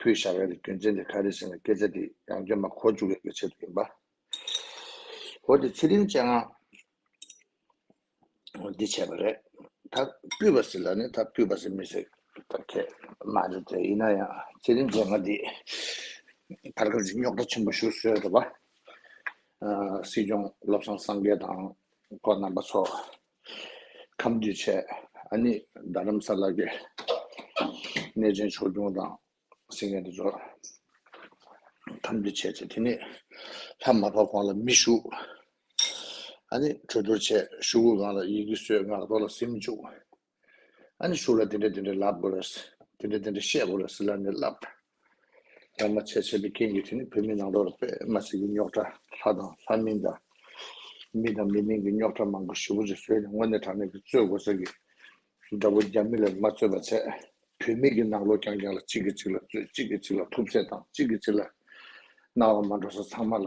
ཕུད་བཞག་ཡ་རེ་རྒྱུ་མཚན་དེ་ག་རེ་ཟིན་ལ་སྐད་ཆ་དེ་ཡང་བརྒྱབ་ན་གོ་འཇུག་ཡོད་པའི་ཆེད་དུ་ཡིན་པ། འོ་དེ་ཚེ་རིང་ཅན་ང་འདི་བྱས་པ་རེད་ད་སྤུད་པ་ཟེར་ལ་ནི་ད་སྤུད་པ་ཟེར་མི་ཟེར་ད་ཁྱད་མ་རེད་དེ་ཡིན་ན་ཡང་ཚེ་རིང་ཅན་ང་འདི་བར་སྐབས་ཀྱི་རྙོག་དྲ་ཆེན་པོ་ཞུ་སྲོལ་ཡོད་པ། སྲིད་སྐྱོང་བློ་བཟང་སངས་རྒྱས་དང་ཁོ་རྣམ་པ་ཚོ། ཁམས་རྒྱུད་ཆེ། ཨ་ནི་རྡ་རམ་ས་ལ་གི་གནས་ཆེན་ཕྱོགས་སྐྱོང་དང་སིང་ངེ་དུ་འབྱོར། ཁམས་རྒྱུད་ཆེ་ཆེ་དེ་ནས་ལྷ་མ་བབས་གང་ལ་མི་བཞུགས། ཨ་ནི་གྲོས་བསྡུར་བྱས་ཞུ་གུ་གང་ལ་ཡི་གེ་གསོལ་ངག་རྡོ་ལ་སིམ་བཅུག། ཨ་ནི་ཞུ་ལ་དེ་འདྲ་དེ་འདྲ་ལབ་དགོས་རེད། དེ་འདྲ་དེ་འདྲ་བཤད་དགོས་རེད་ཟེར་ལ་ནི་ལབ། ཡང་མ་བྱས་བྱས་པའི་རྐྱེན་གྱིས་དེ་ནི་བོད་མི་ནང་ལོགས་ལ་པད་མ་སེར་གྱི་རྙོག་གྲ་ལྷ་དང་ལྷ་མིན་དང་མི་དང་མི་མིན་གྱི་རྙོག་གྲ་མང་པོ་ཞི་བོ་རེ་བཟོས་ནས་དངོས་གནས་དྲང་གནས་ཀྱི་རྩོད་དགོས་ས་ཀྱི་འདྲ་བོ་རྒྱ་མི་ལ་མ་རྩོད་པ་བྱས་བོད་མི་གྱི་ནང་ལོགས་རྐྱང་རྐྱང་ལ་གཅིག་གིས་གཅིག་ལ་རྩོད་གཅིག་གིས་གཅིག་ལ་ཐུབ་ཚད་དང་གཅིག་གིས་གཅིག་ལ་གནང་བ་མ་འགྲོ་ས་ཚང་མ་ལ་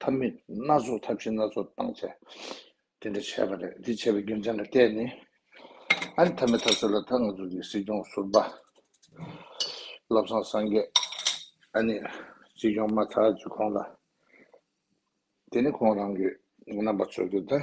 ཐབས་མེད་སྣ་ཚོགས་ཐབས་ཤེས་སྣ་ཚོགས་བཏང་བྱས། དེ་འདྲ་བྱས་པ་རེད། དེ་བྱས་པའི་རྒྱུ་མཚན་ལ་བལྟས་ནས། ཨ་རི་ཐ་མའི་ཐབས་སུ་ལ་དྭགས་ནག་འཛུགས་ཀྱི་སྲིད་སྐྱོང་ཟུར་པ། བློ་བཟང་སངས་རྒྱས། ཨ་ནི་སྲིད་སྐྱོང་མ་ཚར་རྗེས་ཁོང་ལ། དེ་ནི་ཁོང་རང་གི་རྣམ་པ་ཚོལ་དུས་ད།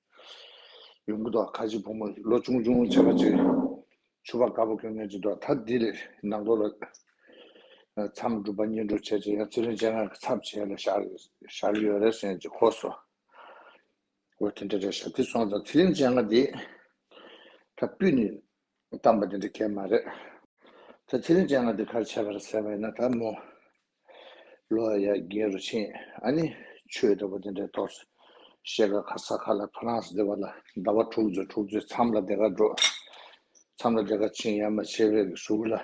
ཡོང་གི་འདུག་ཁ་ཆེ་བུ་མོ་ལོ་ཅུང་ཅུང་ཆེ་བ་ཅིག་ཆུ་བ་དཀར་པོ་གྱོན་ཉོས་ཀྱི་འདུག་ད་འདི་ལས་ནང་སྒོ་ལ་མཚམས་སྒྲུབ་པ་གཉེར་འགྲོ་བྱས་རྗེས་ཡང་ཚེ་རིང་སྤྱན་སྔར་གྱི་ཚབ་བྱས་ལ་ཞག་རེ་ཡོད་རེ་སོན་ཅིག་ཧོ་སོ། འོ་དེ་འདྲ་རེད་ཞབས་ཏི་སོང་ཙང་ཚེ་རིང་སྤྱན་སྔར་འདི་ད་སྤུད་ནས་གཏམ་པ་འདི་འདྲ་ཁྱད་མ་རེད། ད་ཚེ་རིང་ཅན་ང་འདི་གར་བྱས་པར་ཟེར་བ་ཡིན་ན་ད་མོ་ལོ་ཡ་རྒན་རུ་ཆེན་ཨ་ནི་ཆོས་འདྲ་བོ་འདི་འདྲའི་ཐོག་སུ་བཤད་ག་ག་ས་ག་ལ་ཕ་རངས་སྡེ་བ་ལ་ཟླ་བ་དྲུག་ཚོ་དྲུག་ཚོའི་མཚམས་ལ་སྡེ་ག་འགྲོ་མཚམས་ལ་སྡེ་ག་ཕྱིན་ཡ་མ་བྱས་བའི་གཟུགས་ལ།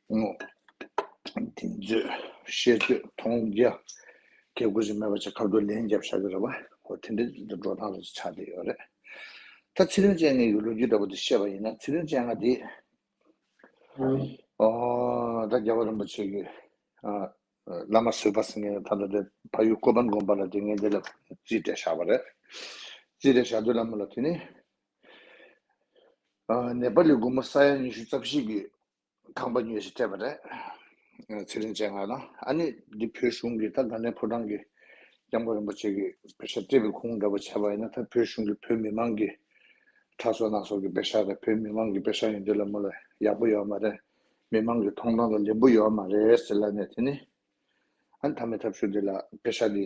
ངོ། དེ་ཚོས་ཤེས་ཚོད་མཐོང་རྒྱ། སྐད་ཁུར་ཞིག་མེད་པ་ཆགས་ཁ་བརྡོ་ལན་བརྒྱབ་ཤག་གི་རེ་བ་ཁོ་དེ་འདྲའི་འགྲོ་སྟངས་ལ་ཆགས་བསྡད་ཡོད་རེད། ད་ཚེ་རིང་ཅན་ངེད་ཀྱི་ལོ་རྒྱུས་འདྲ་པོ་དེ་བཤད་པ་ཡིན་ན་ཚེ་རིང་ཅན་ང་དེ། ད་རྒྱལ་བ་རིན་པོ་ཆེ་གི་བླ་མ་བཟོས་པ་ཟེར་མཁན་ད་ལྟ་དེ་ཕ་ཡུལ་ཀོ་པན་དགོན་པ་ལ་དེ་ངེད་དེ་ལ་རྩིས་སྤྲད་ཤག་པ་རེད། རྩིས་སྤྲད་ཤག་དུས་ལ་མོ་ལ་དེ་ནི། ནེ་པ་ལི་དགོན་མོ་ས་ཡ་ཉི་ཤུ་རྩ་བཞི་གི་ཁང་པ་ཉོས་ཤིག་སྤྲད་པ་རེད། ཚེ་རིང་བཅས་ངང་ལ་ཨ་ནེ་འདི་བོད་གཞུང་གིས་ད་ག་ནས་ཕོ་བྲང་གི་སྐྱབས་མགོན་རིན་པོ་ཆེ་གི་བེ་ཤ་སྤྲད་པའི་ཁུངས་འདྲ་པོ་བྱས་པ་ཡིན་ན་ད་བོད་གཞུང་གིས་བོད་མི་མང་གི་ཁྲག་སོ་སྣ་སོགས་ཀྱི་བེ་ཤ་རེད་བོད་མི་མང་གི་བེ་ཤ་ཡིན་དུས་ལ་མོ་ལ་ཡག་པོ་ཡོད་མ་རེད་མི་མང་གི་ཐོང་ཐང་ལ་ལེན་པོ་ཡོད་མ་རེད་ཟེར་ལ་ནས་དེ་ནི་ཨ་ནེ་ཐ་མའི་ཐབས་ཤོར་འདི་ལ་བེ་ཤ་འདི་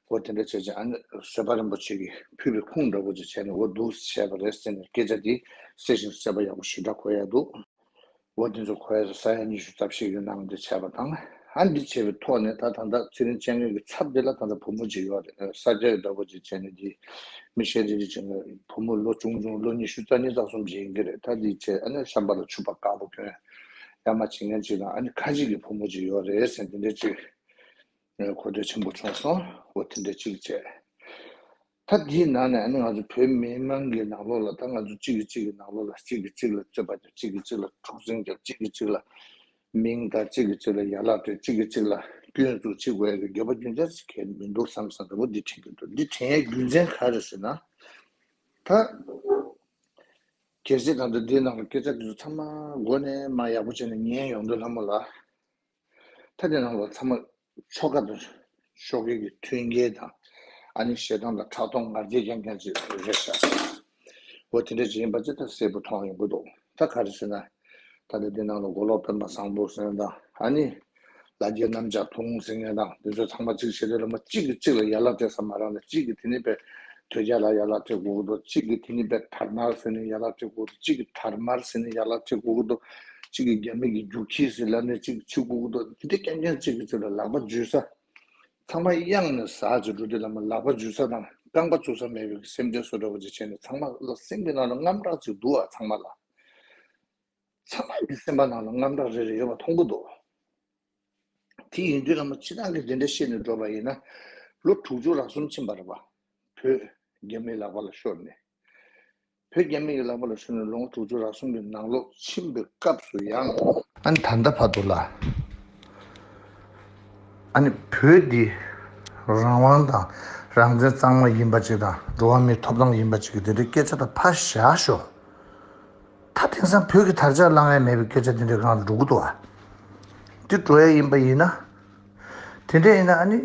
ཁོ་དེ་འདྲ་བྱས་རྗེས་ཨ་ནེ་བཟོད་པ་རིན་པོ་ཆེ་གིས་ཕུལ་བའི་ཁུངས་འདྲ་བོ་ཅིག་བྱས་ནས་འོ་འདུག་བྱས་པ་རེད་ཟེར་ནས་སྐད་ཆ་དེ་གསལ་ཞིང་གསལ་བ་ཡག་པོ་ཞིག་འདྲ་གོ་ཡ་འདུག་འོ་དེ་ཚོ་གོ་ཡ་ས་ཡ་ཉི་ཤུ་རྩ་བཞི་ཡོད་ནའང་འདི་བྱས་པ་དང་ཧ་འདི་བྱས་པའི་ཐོག་ནས་ད་ད་ལྟ་ཚེ་རིང་སྤྱན་སྔས་ཀྱི་ཚབ་དེ་ལ་ད་ལྟ་བུ་མོ་གཅིག་ཡོད་རེད་ས་སྐྱ་ཡོད་འདྲ་བོ་ཅིག་བྱས་ནས་འདི་མི་ཤེས་རིག་རིག་བྱས་ནས་བུ་མོ་ལོ་ཆུང་ཆུང་ལོ་ཉི་ཤུ་རྩ་གཉིས་རྩ་གསུམ་བྱས་ཡིན་གྱི་རེད་ད་འདི་བྱས་ཨ་ནེ་བྱམས་པ་ལ་ཆུ་བ་དཀར་པོ་གྱོན་ཡ་མ་བྱེད་མཁན་གཅིག་དང་ཨ་ནེ་ཁ་ཅིག་གི་བུ་མོ་གཅིག་ཡོད་རེད་ཟེར་འདི་འདྲ་ཅིག་ངས་གོ་ཐོས་ཆེན་པོ་བྱུང་སོང་འོ་དེ་འདྲ་གཅིག་བྱས། ད་འདིའི་ནང་ནས་ང་ཚོ་བོད་མི་དམངས་ཀྱི་ནང་ལོགས་ལ་ད་ང་ཚོ་གཅིག་གིས་གཅིག་གི་ནང་ལོགས་ལ་གཅིག་གིས་གཅིག་ལ་རྩོད་པ་བརྒྱབ་གཅིག་གིས་གཅིག་ལ་འཁྲུག་འཛིང་བརྒྱབ་གཅིག་གིས་གཅིག་ལ་མིང་བཏགས་གཅིག་གིས་གཅིག་ལ་ཡར་ལག་སྤྲོད་གཅིག་གིས་གཅིག་ལ་སྐྱོན་འཛུགས་བྱེད་དགོས་ཡ་གི་འགྱོད་པ་རྒྱུ་མཚན་ཞིག་གས་མི་འདུག་བསམ་བསམ་རེ་བོ་འདི་དྲན་གྱི་འདུག་འདི་དྲན་ཡའི་རྒྱུ་མཚན་ག་རེ་ཟེར་ན། ད་གལ་སྲིད་ང་ཚོ་འདིའི་ནང་ལ་སྐད་ཆ་འདི་ཚོ་ཚང་མ་མགོ་ནས་མ་ཡག་པོ་བྱས་ནས་ཉན་ཡོང་དུས་ལྷ་མོ་ལ། ཐ་དད་རྣམས་ལ་ཚང་མ་ཆོ་ག་དང་ཆོ་གའི་གི་མཐུན་རྐྱེན་དང་ཨ་ནི་ཞེ་སྡང་དང་ཕྲག་དོག་ངར་འཛིན་ཀྱང་ཀྱང་ཅི་རེད་བྱ། འོ་དེ་འདྲ་ཅི་ཡིན་པ་ཅི་ལྟར་གསལ་པོ་མཐོང་ཡོང་གི་འདུག་ད་ག་རེ་ཟེར་ན། ད་ལྟ་འདི་ནང་ལ་མགོ་ལོག་སྤེན་པ་བཟང་པོ་ཟེར་མཁན་དང་ཨ་ནི་ལ་རྒྱའི་གནམ་ལྕགས་ཐུང་ཟེར་མཁན་དང་འདི་ཚོ་ཚང་མ་གཅིག་བྱས་ཏེ་སློབ་མ་གཅིག་གིས་གཅིག་ལ་ཡར་ལག་སྤྲད་ས་མ་རང་ན་གཅིག་གིས་དེ་ནི་པའི་དོལ་རྒྱལ་ལ་ཡར་ལག་སྤྲད་དགོས་ཀྱི་འདུག་གཅིག་གིས་དེ་ནི་པའི་དར་དམར་ཟེར་ནས་ཡར་ལག་སྤྲད་དགོས་ཀྱི་འདུག་གཅིག་གིས་དར་དམར་ཟེར་ནས་ཡར་ལག་སྤྲད་དགོས་ཀྱི་འདུག། གཅིག་གིས་རྒྱ་མིག་གི་རྒྱུག་ཁྱི་ཟིན་ལབ་ནས་གཅིག་གིས་ཆུ་ཁུག་ཏུ་ལྡི་ལྡི་ཀན་ཀན་གཅིག་གིས་ཚུར་ལ་ལག་པ་འཇུས་ས། ཚང་མ་གཡང་ནས་ཟགས་ཀྱི་འགྲོ་དུས་ལ་མོ་ལག་པ་འཇུས་ས་དང་རྐང་པ་བཙུགས་ས་མེད་པའི་སེམས་ཁྲལ་བཟོ་འདྲ་བོ་ཅིག་བྱས་ནས་ཚང་མ་ལ་སེམས་ཀྱི་ནང་ལ་རྔམ་སྐྲག་ཅིག་འདུག་ཨ་ཚང་མ་ལ། ཚང་མ་གི་སེམས་པ་ནང་ལ་རྔམ་སྐྲག་རེ་རེ་ཡོད་པ་མཐོང་གི་འདུག་དེ་ཡིན་དུས་ལ་མོ་ཕྱི་ནང་གི་འདི་འདྲ་བཤད་ནས་འགྲོ་བ་ཡིན་ན། ལོ་དྲུག་ཅུ་རག་གསུམ་ཕྱིན་པར་བ། བོད་རྒྱ་མིའི་ལག་པ་ལ་ཤོར་ནས། བོད་རྒྱ་མི་རིགས་ལག་པ་ལ་ཞུགས་ནས་ལོ་ངོ་དྲུག་ཅུ་རག་གསུམ་གྱི་ནང་ལོག་ཕྱིན་པའི་སྐབས་སུ་ཡང། ཨ་ནི་ད་ལྟ་བར་དུ་ལ་ཨ་ནི་བོད་འདི་རང་དབང་དང་རང་བཙན་གཙང་མ་ཡིན་པ་ཅིག་དང་འགྲོ་བ་མིའི་ཐོབ་ཐང་ཡིན་པ་ཅིག་གི་དེ་འདྲའི་སྐད་ཆ་དག་ཕར་བཞག་ཞོག་ད་དེང་སང་བོད་ཀྱི་དར་ཆ་བསླང་ཡ་མེད་པའི་སྐད་ཆ་དེ་འདྲའི་སྒང་དུ་འགྲོ་གི་འདུག་ཨ་འདི་འགྲོ་ཡ་ཡིན་པ་ཡིན་ན། དེ་འདྲ་ཡིན་ན་ཨ་ནི་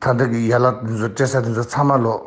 ད་ལྟ་གི་ཡ་ལག་འདི་ཚོ་སྤྲེལ་ས་འདི་ཚོ་ཚང་མ་ལོག།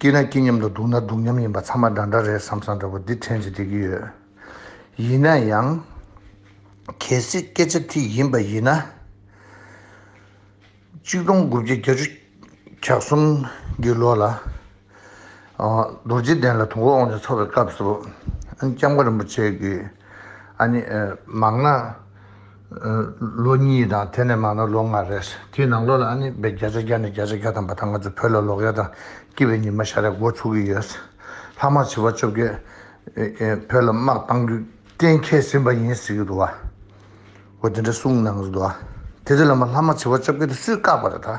སྐྱིད་ན་སྐྱིད་མཉམ་དུ་སྡུག་ན་སྡུག་མཉམ་ཡིན་པ་ཚང་མ་འདྲ་འདྲ་རེད་བསམ་བསམ་འདྲ་པོ་འདི་ཕྲན་གྱིས་བསྡད་ཀྱི་ཡོད། ཡིན་ན་ཡང། གལ་སྲིད་སྐད་ཆ་དེ་ཡིན་པ་ཡིན་ན། གཅིག་སྟོང་དགུ་བརྒྱ་བརྒྱ་ཅུ་གྱ་གསུམ་གྱི་ལོ་ལ། རྡོ་རྗེ་གདན་ལ་དུང་འཁོར་དབང་ཆེན་འཚོགས་པའི་སྐབས་སུ། ཨ་ནི་ལྕམ་མཁའ་རིན་པོ་ཆེ་གིས། ཨ་ནི། མང་ན། ལོ་གཉིས་དང་དེ་ནས་མང་ན་ལོ་ལྔ་རེད། དེའི་ནང་ལོ་ལ་ཨ་ནེ་བས་བརྒྱ་ཆ་བརྒྱ་ནས་བརྒྱ་ཆ་བརྒྱ་ཐམ་པ་དག་ང་ཚོའི་བོད་ལ་ལོག་ཡ་དང་སྐྱིད་པའི་ཉི་མ་ཤར་ཡ་འགོ་ཚུགས་ཀྱི་ཡོད། ལྷག་མ་བྱིས་པ་བཅོ་བརྒྱད་བོད་ལ་དམག་བཏང་རྒྱུ་གཏན་འཁེལ་ཟིན་པ་ཡིན་ཟེར་གྱི་འདུག་བ། འོ་དེ་འདྲ་གསུངས་གནང་གི་འདུག་བ། དེ་དེ་ལ་མ་ལྷག་མ་བྱིས་པ་བཅོ་བརྒྱད་དེ་སུས་བཀག་པ་རེད་ད།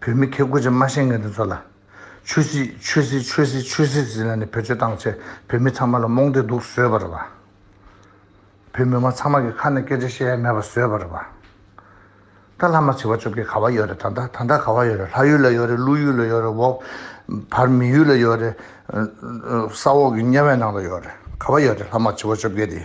བོད་མི་ཁེ་དགུ་ཅན་སྨྲ་ཤེས་ངན་དེ་ཚོ་ལ། ཆོས་སྲིད་ཆོས་སྲིད་ཆོས་སྲིད་ཆོས་སྲིད་ཟེར་ན་ནི་བེད་སྤྱོད་བཏང་ཚེ་བོད་མི་ཚང་མ་ལ་རྨོངས་དད་དུག་ཟོས་པར་བ། བོད་མི་དམངས་ཚང་མ་གི་ཁ་ནས་སྐད་ཆ་བཤད་ཡ་མེད་པ་ཟོས་པར་བ། ད་ལྷ་མ་བྱི་བ་བཅོ་བརྒྱད་ག་བ་ཡོད་རེད་ད་ད་ད་ད་ག་བ་ཡོད་རེད་ལྷ་ཡུལ་ལ་ཡོད་རེད་ཀླུ་ཡུལ་ལ་ཡོད་རེད་འོག་བར་མི་ཡུལ་ལ་ཡོད་རེད་ས་འོག་གི་དམྱལ་བའི་ནང་ལ་ཡོད་རེད་ག་བ་ཡོད་རེད་ལྷ་མ་བྱི་བ་བཅོ་བརྒྱད་དེ།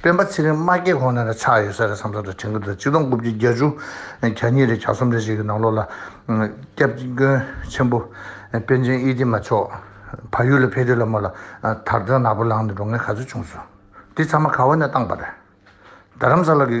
སྤེན་པ་ཚེ་རིང་དམག་རྒྱལ་ཁོང་ནས་ར་ཆགས་ཡོད་ས་རེད་བསམ་སོང་རེད་དྲན་གི་འདུག་གཅིག་སྟོང་དགུ་བརྒྱ་གྱ་བཅུ་གྱ་གཉིས་རེད་གྱ་གསུམ་རེད་ཞིག་གི་ནང་ལོགས་ལ། སྐྱབས་མགོན་ཆེན་པོ་པན་ཆེན་དབྱི་ཏི་མ་མཆོག་ཕ་ཡུལ་ལ་ཕེབས་དུས་ལ་མོ་ལ་དར་དོན་ནག་པོ་ལངས་ནས་འགྲོ་ངེས་ག་ཚོད་བྱུང་སོང་དེ་ཚང་མ་ག་བ་ནས་བཏང་པ་རེད་རྡ་རམ་ས་ལ་གི།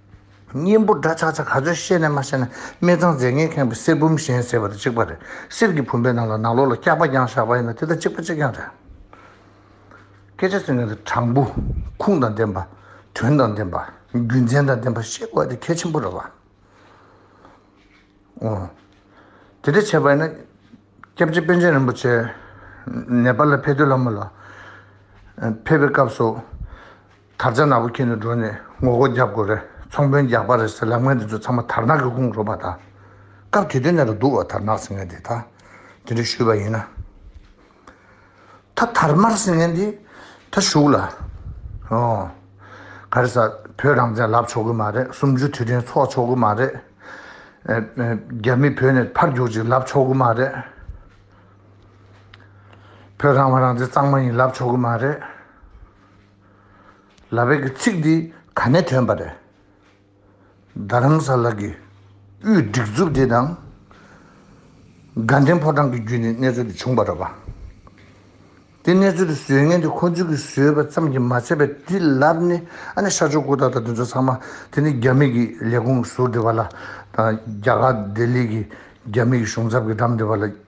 གཉེན་པོ་འདྲ་ཆགས་ཆགས་ག་ཚོད་བཤད་ནས་མ་བཤད་ན་སྨད་ཚང་རྫས་ངན་ཁེངས་པའི་གསེར་བུམ་བཞེངས་ཟེར་བ་དང་གཅིག་པ་རེད་གསེར་གྱི་བུམ་པའི་ནང་ལ་ནག་ལོ་ལ་སྐྱག་པ་རྒྱང་བཞག་པ་ཡིན་ན་དེ་དང་གཅིག་པ་གཅིག་རྐྱང་རེད། སྐད་ཆ་ཟེར་མཁན་དེ་དྲང་པོ། ཁུངས་དང་ལྡན་པ། དོན་དང་ལྡན་པ། རྒྱུ་མཚན་དང་ལྡན་པ་བཤད་དགོས་པ་དེ་གལ་ཆེན་པོ་རེད་བ། འོ། དེ་འདྲ་བྱས་པ་ཡིན་ན། སྐྱབས་རྗེ་པཎ་ཆེན་རིན་པོ་ཆེ། ནེ་པ་ལ་ཕེབས་དུས་ལྷ་མོ་ལ། ཕེབས་པའི་སྐབས་སུ། དར་ཆ་ནག་པོ་འཁྱེར་ནས་འགྲོ་ནས་ངོ་རྒོལ་རྒྱབ་དགོས་རེད་ཚོང་དཔོན་རྒྱག་པ་རེད་ཟེར་ལབ་ངན་དེ་ཚོ་ཚང་མ་དར་ནག་གི་དགུང་རོ་པ་དང། སྐབས་དེ་དུས་ནས་རུ་འདུག་བ་དར་ནག་ཟེར་ངན་དེ་དག་དེ་འདྲ་ཞུས་པ་ཡིན་ན། ད་དར་དམར་ཟེར་ངན་དེ་ད་བཞུགས་ལ། ཨོ། ག་རེ་ཟ་བོད་རང་བཙན་ལབ་ཆོག་གི་མ་རེད་སུམ་ཅུ་དུས་དྲན་འཚོགས་ཆོག་གི་མ་རེད། རྒྱ་མི་བོད་ནས་ཕར་རྒྱུག་ཅིག་ལབ་ཆོག་གི་མ་རེད། བོད་རང་དབང་རང་བཙན་གཙང་མ་ཡིན་ལབ་ཆོག་གི་མ་རེད། ལ་བས་ཀྱི་ཚིག་འདི་ག་ནས་ཐོན་པ་རེད། རྡ་རམ་ས་ལ་གྱི་དབུས་སྒྲིག་འཛུགས་དེ་དང། དགའ་ལྡན་ཕོ་བྲང་གི་བརྒྱུད་ནས་གནས་ཚུལ་འདི་བྱུང་པ་རེད་པ། དེ་གནས་ཚུལ་དེ་བཟོས་ངན་དེ་ཁོ་ཚོས་ཀྱིས་བཟོས་པ་ཙམ་གྱིས་མ་ཚད་པས་དེ་ལར་ནི་ཨ་ནི་ཤར་ཕྱོགས་སྐུ་དར་དང་དེ་ཚོ་ཚང་མ་དེ་ནི་རྒྱ་མིག་གི་ལས་ཁུངས་ཟུར་འདི་བ་ལ་དང་རྒྱ་གར་ལྡི་ལི་གི་རྒྱ་མིག་གི་གཞུང་ཚབ་ཀྱི་འགྲམ་འདི་བ་ལ།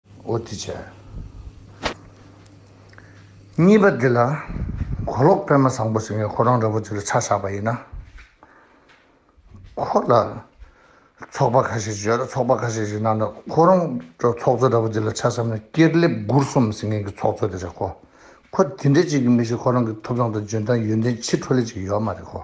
འོ་དེ་བྱས། གཉིས་པ་འདི་ལ་གོ་ལོག་པད་མ་བཟང་པོ་ཟེར་བའི་ཁོ་རང་ར་བོ་ཆེ་ལ་ཆ་བཞག་པ་ཡིན་ན། ཁོ་ལ་ཚོགས་པ་ཁ་ཤས་ཤིག་ཡོད་ལ་ཚོགས་པ་ཁ་ཤས་ཤིག་ནང་དུ་ཁོ་རང་ཚོགས་གཙོ་ར་བོ་ཆེ་ལ་ཆ་བསམ་ན་སྐྱེར་ལེབ་མགུར་གསུམ་ཟེར་མཁན་གྱི་ཚོགས་གཙོ་དེ་རེད་ཁོ། ཁོ་དེ་འདྲ་ཅིག་གི་མི་ཞིག་ཁོ་རང་གི་ཐོབ་ཐང་དང་འཇོན་ཐང་ཡོན་ཏན་ཕྱི་འཕྲོ་ལས་ཅིག་ཡོད་མ་རེད་ཁོ།